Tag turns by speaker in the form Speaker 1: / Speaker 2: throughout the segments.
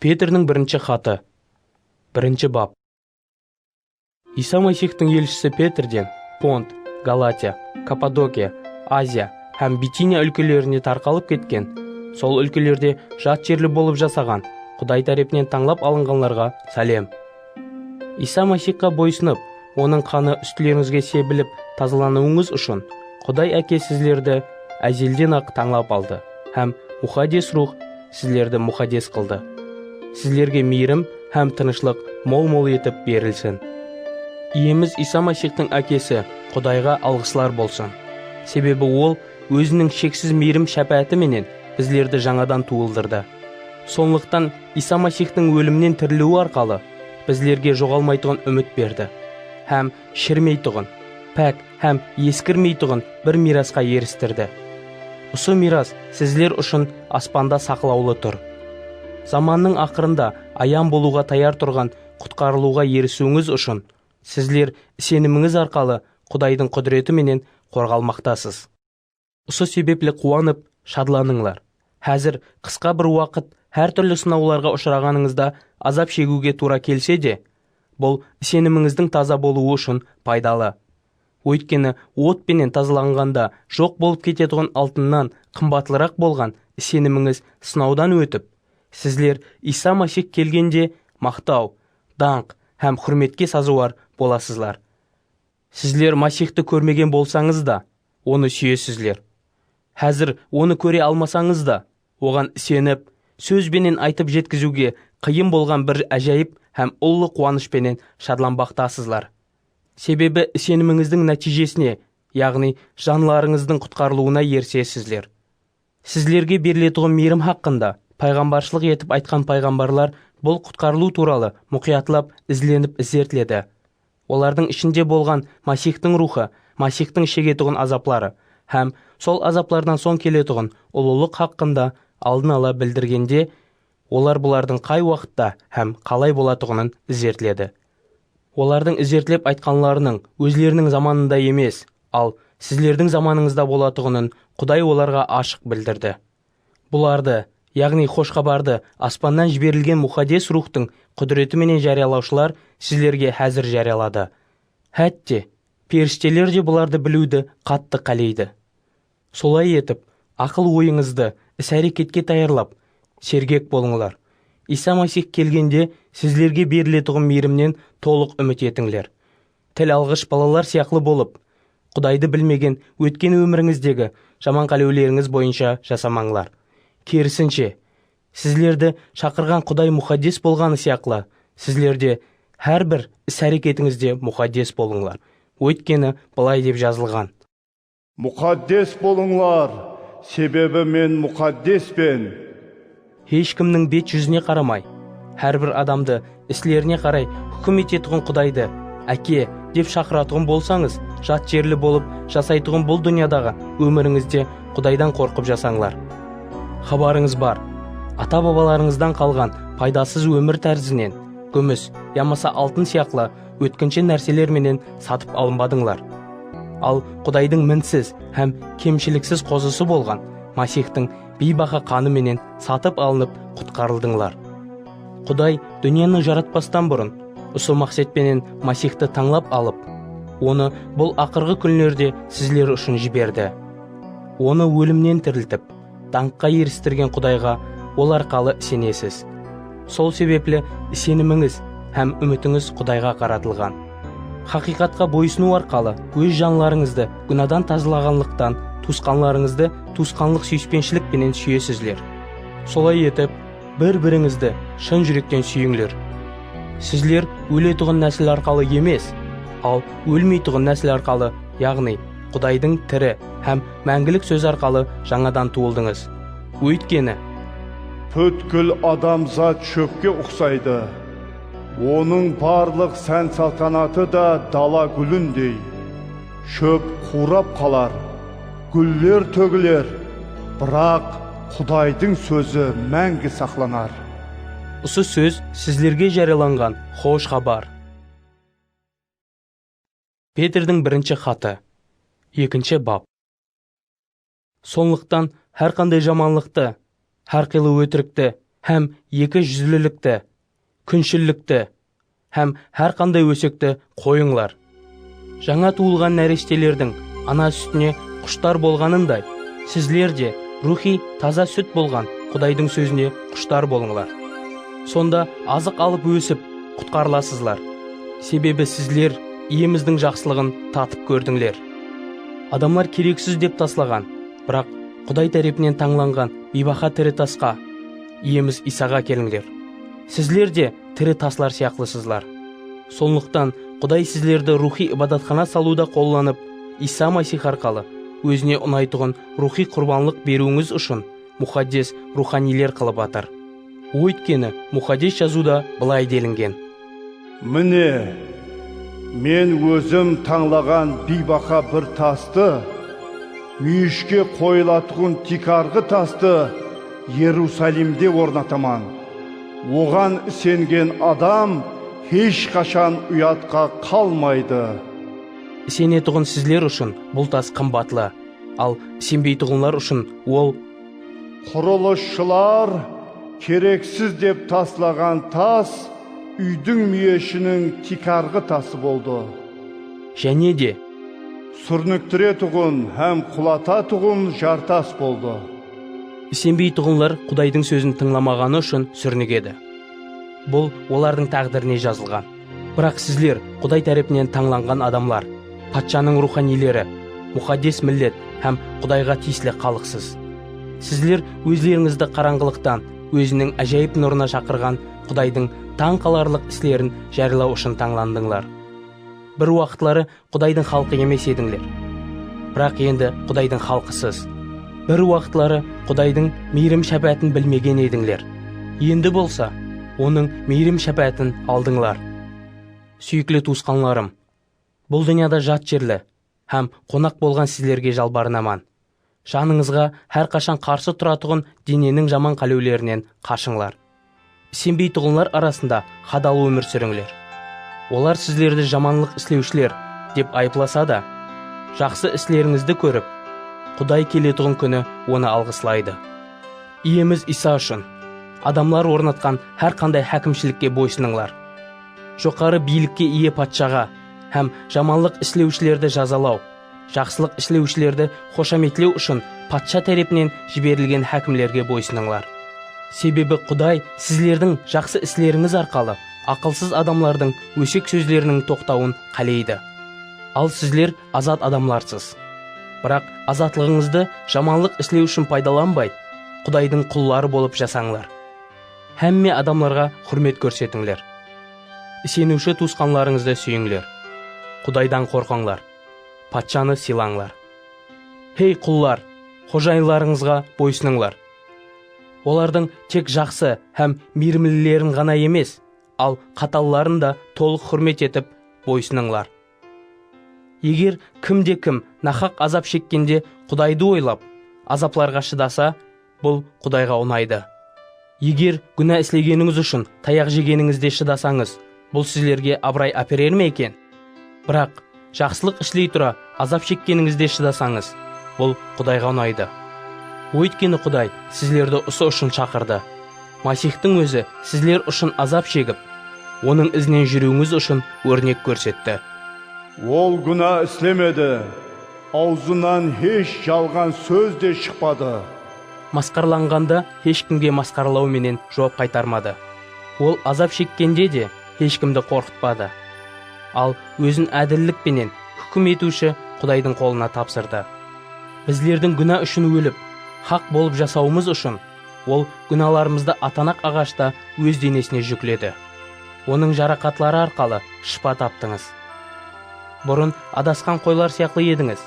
Speaker 1: Petrniń birinshi xatı, birinshi bap. Iysa Masixtiń elshisi Petrden Pont, Galatiya, Kappadokiya, Aziya hám Bitiniya úlkelerine tarqalıp ketken, sol úlkelerde jat jerli bolıp jasaǵan Quday tárepinen tańlap alınǵanlarǵa sálem. Iysa Masiyxqa boysınıp, Onıń qanı ústilerińizge sebilip tazalanıwıńız ushın, Quday Áke sizlerdi ázelden-aq tańlap aldı hám Muxaddes Ruwx sizlerdi muxaddes qıldı. Sizlerge miyrim hám tınıshlıq mol-mol etip berilsin. Iyemiz Iysa Masiyxtıń Ákesi Qudayǵa alǵıslar bolsın, sebebi Ol Óziniń sheksiz miyrim-shápááti menen bizlerdi jańadan tuwıldırdı. Sonlıqtan Iysa Masixtıń ólimnen tiriliwi arqalı bizlerge joǵalmaytuǵın úmit berdi hám shirmeytuǵın, pák hám eskirmeytuǵın bir miyrasqa eristirdi. Usı miyras sizler ushın aspanda saqlawlı tur. Zamannıń aqırında ayan bolıwǵa tayar turǵan qutqarılıwǵa erisiwińiz ushın, sizler isenimińiz arqalı Qudaydıń qúdireti menen qorǵalmaqtasız. Usı sebepli quwanıp, shadlanıńlar. Házir qısqa bir waqıt hár túrli sınawlarǵa ushıraǵanıńızda azap shegiwge tuwra kelse de, bul isenimińizdiń taza bolıwı ushın paydalı. Óytkeni ot penen tazalanǵanda joq bolıp ketetuǵın altınnan qımbatlıraq bolǵan isenimińiz sınawdan ótip, sizler Iysa Masix kelgende maqtaw, dańq hám húrmetke sazıwar bolasızlar. Sizler Masixtı kórmegen bolsańız da, Onı súyesizler. Házir Onı kóre almasańız da, Oǵan isenip, sóz benen aytıp jetkiziwge qıyın bolǵan bir ájayıp hám ullı quwanısh penen shadlanbaqtasızlar. Sebebi isenimińizdiń nátiyjesine, yaǵnıy janlarıńızdıń qutqarılıwına erisesizler. Sizlerge beriletuǵın miyrim haqqında payǵambarshılıq etip aytqan payǵambarlar bul qutqarılıw tuwralı muqıyatlap izlenip izertledi. Olardıń ishinde bolǵan Masixtıń ruwxı, Masixtıń shegetuǵın azapları hám sol azaplardan soń keletuǵın ulılıq haqqında aldın ala bildirgende Olar bulardıń qay waqıtta hám qalay bolatuǵının izertledi. Olardıń izertlep aytqanlarınıń ózleriniń zamanında emes, al, sizlerdiń zamanıńızda bolatuǵının Quday olarǵa ashıq bildirdi. Bulardı, yaǵnıy Xosh Xabardı aspannan jiberilgen Muxaddes Ruwxtıń qúdireti menen járiyalawshılar sizlerge házir járiyaladı. Hátte, perishteler de bulardı biliwdi qattı qáleydi. Solay etip, aqıl-oyıńızdı is-háreketke tayarlap, sergek bolıńlar. Iysa Masix kelgende sizlerge beriletuǵın miyrimnen tolıq úmit etińler. Til alǵısh balalar sıyaqlı bolıp, Qudaydı bilmegen ótken ómirińizdegi jaman qálewlerińiz boyınsha jasamańlar. Kerisinshe, sizlerdi shaqırǵan Quday muxaddes bolǵanı sıyaqlı, sizler de hár bir is-háreketińizde muxaddes bolıńlar. Óytkeni bılay dep jazılǵan. Muqaddes bolıńlar, sebebi Men muqaddespen. Hesh kimniń bet júzine qaramay, hár bir adamdı islerine qaray húkim etetuǵın Qudaydı Áke dep shaqıratuǵın bolsańız, jat jerli bolıp jasaytuǵın bul dúnyadaǵı ómirińizde Qudaydan qorqıp jasańlar. Xabarıńız bar, ata-babalarıńızdan qalǵan paydasız ómir tárzinen gúmis yamasa altın sıyaqlı Ótkinshe nárseler menen satıp alınbadıńlar. Al, Qudaydıń minsiz hám kemshiliksiz Qozısı bolǵan Masixtıń biybaha qanı menen satıp alınıp qutqarıldıńlar. Quday dúnyanı jaratpastan burın, usı maqset penen Masixtı tańlap alıp, Onı bul aqırǵı kúnlerde sizler ushın jiberdi. Onı ólimnen tiriltip, Dańqqa eristirgen Qudayǵa Ol arqalı isenesiz. Sol sebepli isenimińiz hám úmitińiz Qudayǵa qaratılǵan. Haqıyqatqa boyısınıw arqalı óz janlarıńızdı gúnadan tazalaǵanlıqtan tuwısqanlarıńızdı tuwısqanlıq súyispenshilik penen súyesizler. Solay etip, bir-birińizdi shın júrekten súyińler. Sizler óletuǵın násil arqalı emes, al ólmeytuǵın násil arqalı, yaǵnıy, Qudaydıń tiri hám máńgilik sózi arqalı jańadan tuwıldıńız. Óytkeni. Pútkil adamzat shópke uqsaydı, onıń barlıq sán-saltanatı da dala gúlindey. Shóp quwrap qalar, gúller tógiler, biraq Qudaydıń sózi máńgi saqlanar. Usı sóz sizlerge járiyalanǵan xosh xabar. Petrdiń birinshi xatı, ekinshi bap. Sonlıqtan hár qanday jamanlıqtı, hár qıylı ótirikti hám eki júzlilikti, kúnshillikti hám hár qanday ósekti qoyıńlar. Jańa tuwılǵan náreshtelerdiń ana sútine qushtar bolǵanınday, sizler de ruwxıy taza sút bolǵan Qudaydıń sózine qushtar bolıńlar. Sonda azıq alıp ósip, qutqarılasızlar. Sebebi sizler Iyemizdiń jaqsılıǵın tatıp kórdińler. Adamlar kereksiz dep taslaǵan, biraq Quday tárepinen tańlanǵan biybaha tiri tasqa, Iyemiz Iysaǵa kelińler. Sizler de tiri taslar sıyaqlısızlar. Sonlıqtan Quday sizlerdi ruwxıy ibadatxana salıwda qollanıp, Iysa Masix arqalı Ózine unaytuǵın ruwxıy qurbanlıq beriwińiz ushın muxaddes ruwxaniyler qılıp atır. Óytkeni, Muxaddes Jazıwda bılay delingen. Mine, Men Ózim tańlaǵan biybaha bir tastı, múyishke qoyılatuǵın tiykarǵı tastı Erusalimde ornataman. Oǵan isengen adam hesh qashan uyatqa qalmaydı. Isenetuǵın sizler ushın bul tas qımbatlı. Al, isenbeytuǵınlar ushın ol. Qurılısshılar kereksiz dep taslaǵan tas úydiń múyeshiniń tiykarǵı tası boldı. Jáne de. Súrniktiretuǵın hám qulatatuǵın jartas boldı. Isenbeytuǵınlar Qudaydıń sózin tıńlamaǵanı ushın súrnigedi. Bul olardıń táǵdirine jazılǵan. Biraq sizler Quday tárepinen tańlanǵan adamlar, patshanıń ruwxaniyleri, muxaddes millet hám Qudayǵa tiyisli xalıqsız. Sizler ózlerińizdi qarańǵılıqtan Óziniń ájayıp nurına shaqırǵan Qudaydıń tań qalarlıq islerin járılaw ushın tańlandıńlar. Bir waqıtları Qudaydıń xalqı emes edińler, biraq endi Qudaydıń xalqısız. Bir waqıtları Qudaydıń miyrim-shápáátin bilmegen edińler, endi bolsa Onıń miyrim-shápáátin aldıńlar. Súyikli tuwısqanlarım, bul dúnyada jat jerli hám qonaq bolǵan sizlerge jalbarınaman, Janıńızǵa hár qashan qarsı turatuǵın deneniń jaman qálewlerinen qashıńlar. Isenbeytuǵınlar arasında hadal ómir súrińler. Olar sizlerdi jamanlıq islewshiler dep ayıplasa da, jaqsı islerińizdi kórip, Quday keletuǵın kúni Onı alǵıslaydı. Iyemiz Iysa ushın, adamlar ornatqan hár qanday hákimshilikke boysınıńlar. Joqarı biylikke iye patshaǵa hám jamanlıq islewshilerdi jazalaw Jaqsılıq islewshilerdi xoshametlew ushın patsha tárepinen jiberilgen hákimlerge boysınıńlar. Sebebi Quday sizlerdiń jaqsı islerińiz arqalı aqılsız adamlardıń ósek sózleriniń toqtawın qáleydi. Al sizler azat adamlarsız. Biraq azatlıǵıńızdı jamanlıq islew ushın paydalanbay, Qudaydıń qulları bolıp jasańlar. Hámme adamlarǵa húrmet kórsetińler. Iseniwshi tuwısqanlarıńızdı súyińler. Qudaydan qorqıńlar. patshanı sıylańlar. Hey, qullar, xojayınlarıńızǵa boysınıńlar. Olardıń tek jaqsı hám miyrimlilerin ǵana emes, al qatalların da tolıq húrmet etip, boysınıńlar. Eger kim de kim nahaq azap shekkende Qudaydı oylap, azaplarǵa shıdasa, Bul Qudayǵa unaydı. Eger gúna islegenińiz ushın tayaq jegenińizde shıdasańız, bul sizlerge abıray áperer me eken? Biraq, jaqsılıq isley tura azap shekkenińizde shıdasańız, bul Qudayǵa unaydı. Óytkeni Quday sizlerdi usı ushın shaqırdı. Masixtıń Ózi sizler ushın azap shegip, Onıń izinen júriwińiz ushın órnek kórsetti. Ol gúna islemedi. Awzınan hesh jalǵan sóz de shıqpadı. Masqaralanǵanda hesh kimge masqaralaw menen juwap qaytarmadı. Ol azap shekkende de hesh kimdi qorqıtpadı. Al, ózin ádillik penen húkim etiwshi Qudaydıń qolına tapsırdı. Bizlerdiń gúna ushın ólip, haq bolıp jasawımız ushın Ol gúnalarımızdı atanaq aǵashta Óz denesine júkledi. Onıń jaraqatları arqalı shıpa taptıńız. Burın adasqan qoylar sıyaqlı edińiz.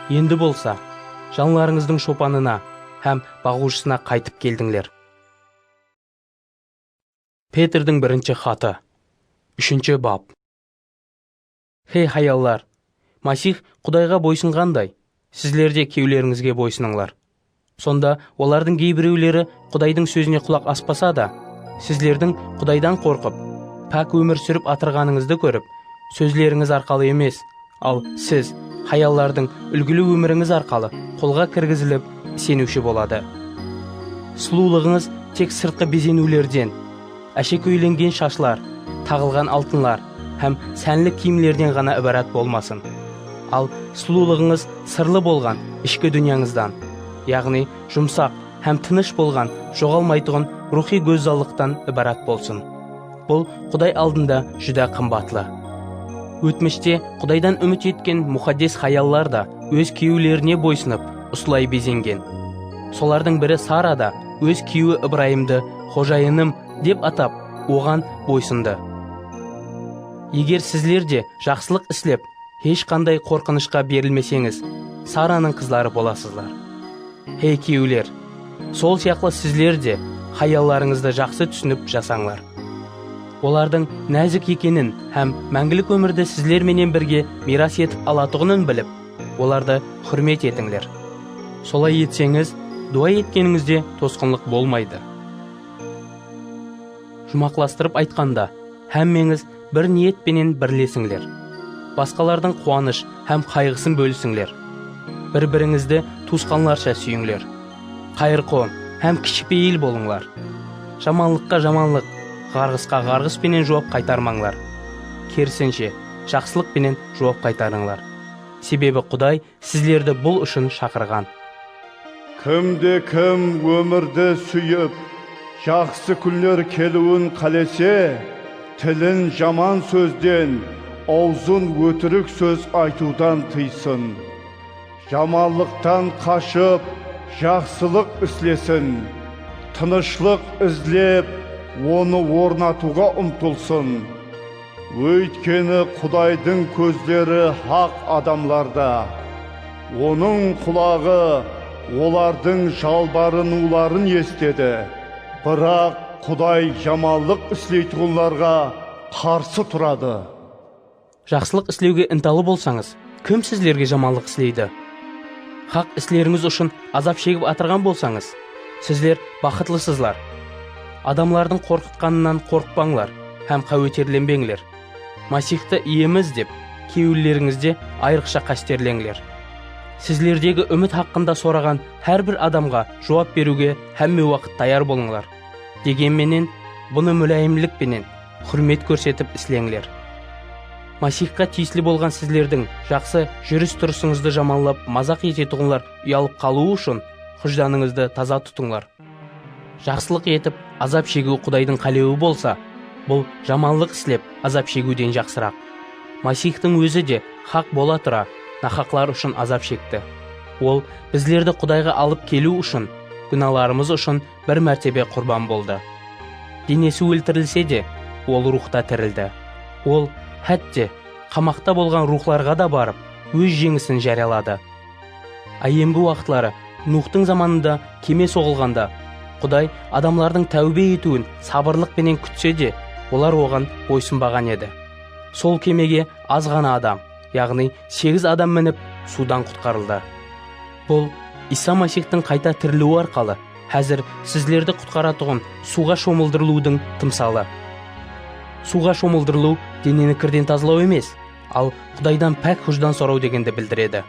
Speaker 1: Endi bolsa, janlarıńızdıń shopanına hám baǵıwshısına qaytıp keldińler. Petrdiń birinshi xatı, úshinshi bap. Hey hayallar! Masix Qudayǵa boysınǵanday, sizler de kúyewlerińizge boysınıńlar. Sonda olardıń geybirewleri Qudaydıń sózine qulaq aspasa da, sizlerdiń Qudaydan qorqıp, pák ómir súrip atırǵanıńızdı kórip, sózlerińiz arqalı emes, al siz, hayallardıń úlgili ómirińiz arqalı qolǵa kirgizilip, iseniwshi boladı. Sulıwlıǵıńız tek sırtqı bezeniwlerden. Áshekóylengen shashlar, taǵılǵan altınlar hám sánli kiyimlerden ǵana ibarat bolmasın. Al, sulıwlıǵıńız sırlı bolǵan ishki dúnyańızdan, yaǵnıy jumsaq hám tınısh bolǵan joǵalmaytuǵın ruwxıy gózzallıqtan ibarat bolsın. Bul Quday aldında júdá qımbatlı. Ótmishte Qudaydan úmit etken muxaddes hayallar da óz kúyewlerine boysınıp, usılay bezengen. Solardıń biri Sara da óz kúyewi Ibrayımdı Xojayınım, dep atap, oǵan boysındı. Eger sizler de jaqsılıq islep, hesh qanday qorqınıshqa berilmeseńiz, Saranıń qızları bolasızlar. Hey kúyewler, sol sıyaqlı sizler de hayallarıńızdı jaqsı túsinip jasańlar. Olardıń názik ekenin hám máńgilik ómirdi sizler menen birge miyras etip alatuǵının bilip, Olardı húrmet etińler. Solay etseńiz, duwa etkenińizde tosqınlıq bolmaydı. Juwmaqlastırıp aytqanda, hámmeńiz bir niyet penen birlesińler. Basqalardıń quwanısh hám qayǵısın bólisińler. Bir-birińizdi tuwısqanlarsha súyińler. Qayırqom hám kishipeyil bolıńlar. Jamanlıqqa jamanlıq, ǵarǵısqa ǵarǵıs penen juwap qaytarmańlar. Kerisinshe, jaqsılıq penen juwap qaytarıńlar. Sebebi Quday sizlerdi bul ushın shaqırǵan. Kimde-kim ómirdi súyip, jaqsı kúnler keliwin qálese, tilin jaman sózden, awzın ótirik sóz aytıwdan tıysın. Jamanlıqtan qashıp, jaqsılıq islesin. Tınıshlıq izlep, onı ornatıwǵa umtılsın. Óytkeni Qudaydıń kózleri haq adamlarda, Onıń qulaǵı olardıń jalbarınıwların esitedi, biraq Quday jamanlıq isleytuǵınlarǵa qarsı turadı. Jaqsılıq islewge intalı bolsańız, Kim sizlerge jamanlıq isleydi? Haq islerińiz ushın azap shegip atırǵan bolsańız, sizler baxıtlısızlar. Adamlardıń qorqıtqanınan qorıqpańlar hám qáweterlenbeńler. Masixtı Iyemiz dep, kewillerińizde ayrıqsha qásterleńler. Sizlerdegi úmit haqqında soraǵan hár bir adamǵa juwap beriwge hámme waqıt tayar bolıńlar. Degen menen, bunı múláyimlik penen, Húrmet kórsetip isleńler. Masixqa tiyisli bolǵan sizlerdiń jaqsı júris-turısıńızdı jamanlap mazaq etetuǵınlar uyalıp qalıwı ushın hújdanıńızdı taza tutıńlar. Jaqsılıq etip azap shegiw Qudaydıń qálewi bolsa, bul jamanlıq islep azap shegiwden jaqsıraq. Masixtıń Ózi de haq bola tura nahaqlar ushın azap shekti. Ol bizlerdi Qudayǵa alıp keliw ushın, gúnalarımız ushın bir mártebe qurban boldı. Denesi óltirilse de, ol ruwxta tirildi. Ol hátte, qamaqta bolǵan ruwxlarǵa da barıp, óz jeńisin járiyaladı. Áyyemgi waqıtları Nuwxtıń zamanında keme soǵılǵanda, Quday adamlardıń táwbe etiwin sabırlıq penen kútse de, olar oǵan boysınbaǵan edi. Sol kemege az ǵana adam, yaǵnıy segiz adam minip, suwdan qutqarıldı. Bul, Iysa Masixtıń qayta tiriliwi arqalı házir sizlerdi qutqaratuǵın suwǵa shomıldırılıwdıń tımsalı. Suwǵa shomıldırılıw deneni kirden tazalaw emes, al Qudaydan pák hújdan soraw degendi bildiredi.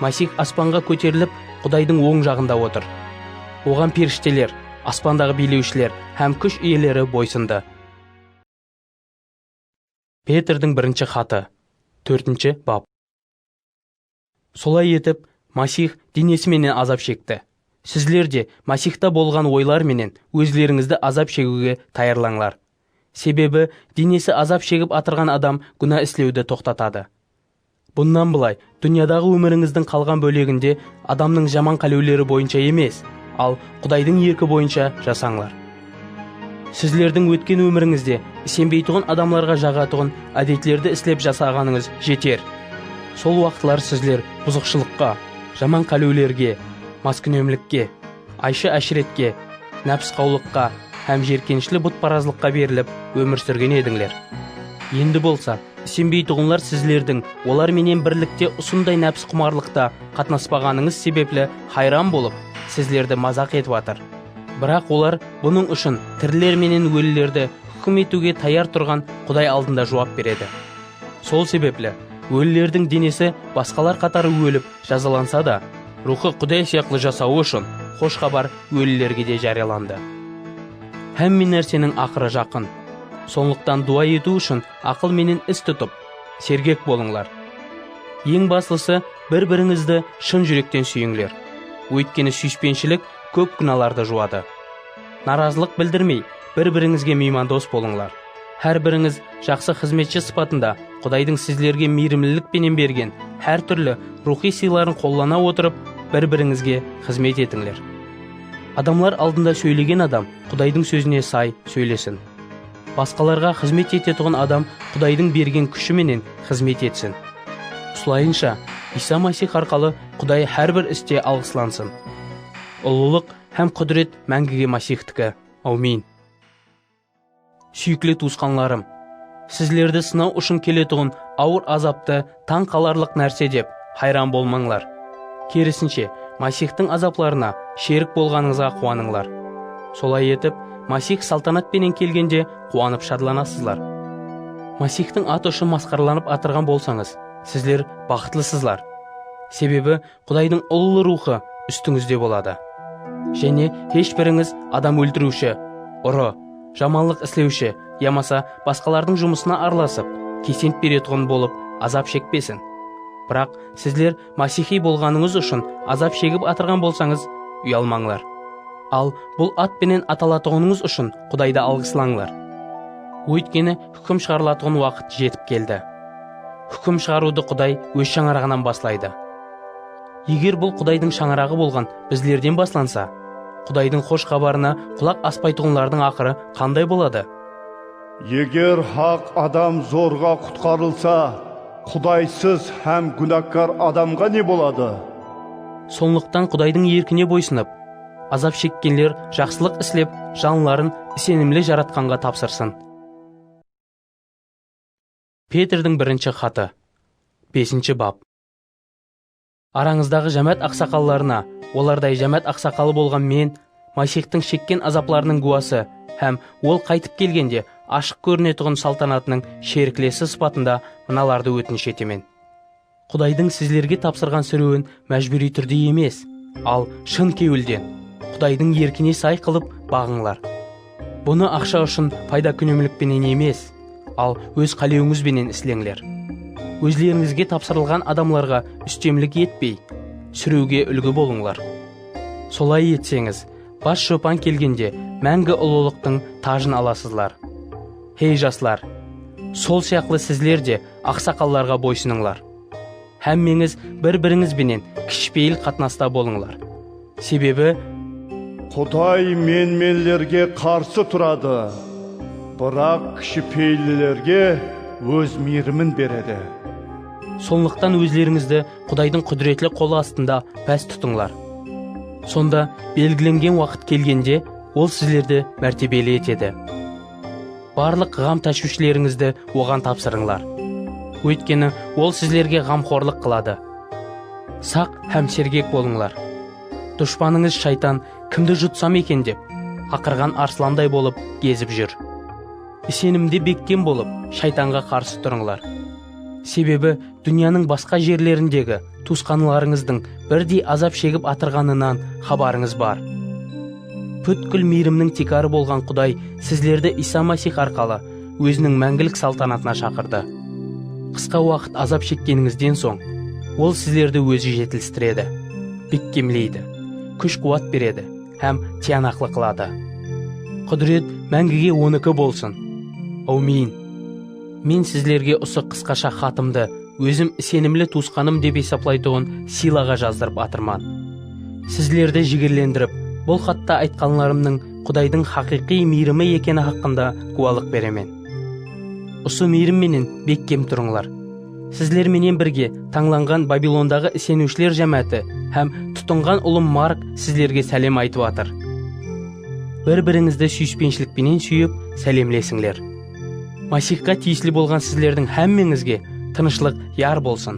Speaker 1: Masix aspanǵa kóterilip, Qudaydıń oń jaǵında otır. Oǵan perishteler, aspandaǵı biylewshiler hám kúsh iyeleri boysındı. Petrdiń birinshi xatı, tórtinshi bap. Solay etip, Masix denesi menen azap shekti. Sizler de Masixta bolǵan oylar menen ózlerińizdi azap shegiwge tayarlańlar. Sebebi denesi azap shegip atırǵan adam gúna islewdi toqtatadı. Bunnan bılay, dúnyadaǵı ómirińizdiń qalǵan bóleginde adamnıń jaman qálewleri boyınsha emes, al Qudaydıń erki boyınsha jasańlar. Sizlerdiń ótken ómirińizde isenbeytuǵın adamlarǵa jaǵatuǵın ádetlerdi islep jasaǵanıńız jeter. Sol waqıtlar sizler buzıqshılıqqa, jaman qálewlerge, maskúnemlikke. Aysha-ashretke, nápsqawlıqqa hám jerkenishli butparazlıqqa berilip ómir súrgen edińler. Endi bolsa, isenbeytuǵınlar sizlerdiń olar menen birlikte usınday nápsqumarlıqta qatnaspaǵanıńız sebepli hayran bolıp, sizlerdi mazaq etip atır. Biraq olar bunıń ushın tiriler menen ólilerdi húkim etiwge tayar turǵan Quday aldında juwap beredi. Sol sebepli, ólilerdiń denesi basqalar qatarı ólip, Jazalansa da, ruwxı Quday sıyaqlı jasawı ushın xosh xabar ólilerge de járiyalandı. Hámme nárseniń aqırı jaqın. Sonlıqtan duwa etiw ushın aqıl menen is tutıp, sergek bolıńlar. Eń baslısı, bir-birińizdi shın júrekten súyińler. Óytkeni súyispenshilik kóp gúnalardı juwadı. Narazılıq bildirmey, bir-birińizge miymandos bolıńlar. Hár birińiz Jaqsı xızmetshi sıpatında Qudaydıń sizlerge miyrimlilik penen bergen hár túrli ruwxıy sıyların qollana otırıp, bir-birińizge xızmet etińler. Adamlar aldında sóylegen adam Qudaydıń sózine say sóylesin. Basqalarǵa xızmet etetuǵın adam Qudaydıń bergen kúshi menen xızmet etsin. Usılayınsha, Iysa Masix arqalı Quday hár bir iste alǵıslansın. Ullılıq hám qúdiret máńgige Masixtiki. Awmin! Súyikli tuwısqanlarım! Sizlerdi sınaw ushın keletuǵın awır azaptı tań qalarlıq nárse dep hayran bolmańlar. Kerisinshe, Masixtıń azaplarına sherik bolǵanıńızǵa quwanıńlar. Solay etip, Masix saltanat penen kelgende quwanıp shadlanasızlar. Masixtıń atı ushın masqaralanıp atırǵan bolsańız, sizler baxıtlısızlar. Sebebi Qudaydıń ullı ruwxı ústińizde boladı. Jáne hesh birińiz adam óltiriwshi, urı, jamanlıq islewshi yamasa basqalardıń jumısına aralasıp, kesent beretuǵın bolıp azap shekpesin. Biraq sizler masixıy bolǵanıńız ushın azap shegip atırǵan bolsańız, uyalmańlar. Al, bul at penen atalatuǵınıńız ushın Qudaydı alǵıslańlar. Óytkeni Húkim shıǵarılatuǵın waqıt jetip keldi. Húkim shıǵarıwdı Quday Óz shańaraǵınan baslaydı. Eger bul Qudaydıń shańaraǵı bolǵan bizlerden baslansa, Qudaydıń xosh xabarına qulaq aspaytuǵınlardıń aqırı qanday boladı? Eger haq adam zorǵa qutqarılsa, Qudaysız hám gúnakkar adamǵa ne boladı? Sonlıqtan Qudaydıń erkine boysınıp, azap shekkenler jaqsılıq islep, janların isenimli Jaratqanǵa tapsırsın. Petrdiń birinshi xatı, besinshi bap. Arańızdaǵı jámát aqsaqallarına, olarday jámát aqsaqalı bolǵan men, Maysextiń shekken azaplarınıń gúwası hám Ol qaytıp kelgende ashıq kórinetuǵın saltanatınıń sheriklesi sıpatında mınalardı ótinish etemen. Qudaydıń sizlerge tapsırǵan sirewin májbúriy túrde emes, al shın kewilden, Qudaydıń erkine say qılıp baǵıńlar. Bunı aqsha ushın payda kúnemlik penen emes, al óz qálewińiz benen isleńler. Ózlerińizge tapsırılǵan adamlarǵa ústemlik etpey, sirewge úlgi bolıńlar. Solay etseńiz, bas shopan kelgende máńgi ulılıqtıń tajın alasızlar. Hey, jaslar! Sol sıyaqlı sizler de Aqsaqallarǵa boysınıńlar. Hámmeńiz bir-birińiz benen kishipeyil qatnasta bolıńlar. Sebebi. Quday menmenlerge qarsı turadı, biraq kishipeyillilerge Óz miyrimin beredi. Sonlıqtan ózlerińizdi Qudaydıń qúdiretli qolı astında pás tutıńlar. Sonda belgilengen waqıt kelgende Ol sizlerdi mártebeli etedi. Barlıq ǵam-táshwishleringizdi Oǵan tapsırıńlar. Óytkeni Ol sizlerge ǵamxorlıq qıladı. Saq hám sergek bolıńlar. Dushpanıńız Shaytan kimdi jutsam eken dep, aqırǵan arslanday bolıp gezip júr. Isenimde bekkem bolıp, Shaytanǵa qarsı turıńlar. Sebebi dúnyanıń basqa jerlerindegi tuwısqanlarıńızdıń birdey azap shegip atırǵanınan xabarıńız bar. Pútkil miyrimniń tiykarı bolǵan Quday sizlerdi Iysa Masix arqalı Óziniń máńgilik saltanatına shaqırdı. Qısqa waqıt azap shekkenińizden soń, Ol sizlerdi Ózi jetilistiredi, bekkemleydi, kúsh-quwat beredi hám tiyanaqlı qıladı. Qúdiret máńgige Oniki bolsın! Áwmiyin! Men sizlerge usı qısqasha xatımdı ózim isenimli tuwısqanım dep esaplaytuǵın Silaǵa jazdırıp atırman. Sizlerdi jigirlendirip, bul xatta aytqanlarımnıń Qudaydıń haqıyqıy miyrimi ekeni haqqında gúwalıq beremen. Usı miyrim menen bekkem turıńlar. Sizler menen birge tańlanǵan Babilondaǵı iseniwshiler jámááti hám tutınǵan ulım Mark sizlerge sálem aytıp atır. Bir-birińizdi súyispenshilik penen súyip, sálemlesińler. Masixqa tiyisli bolǵan sizlerdiń hámmeńizge tınıshlıq yar bolsın!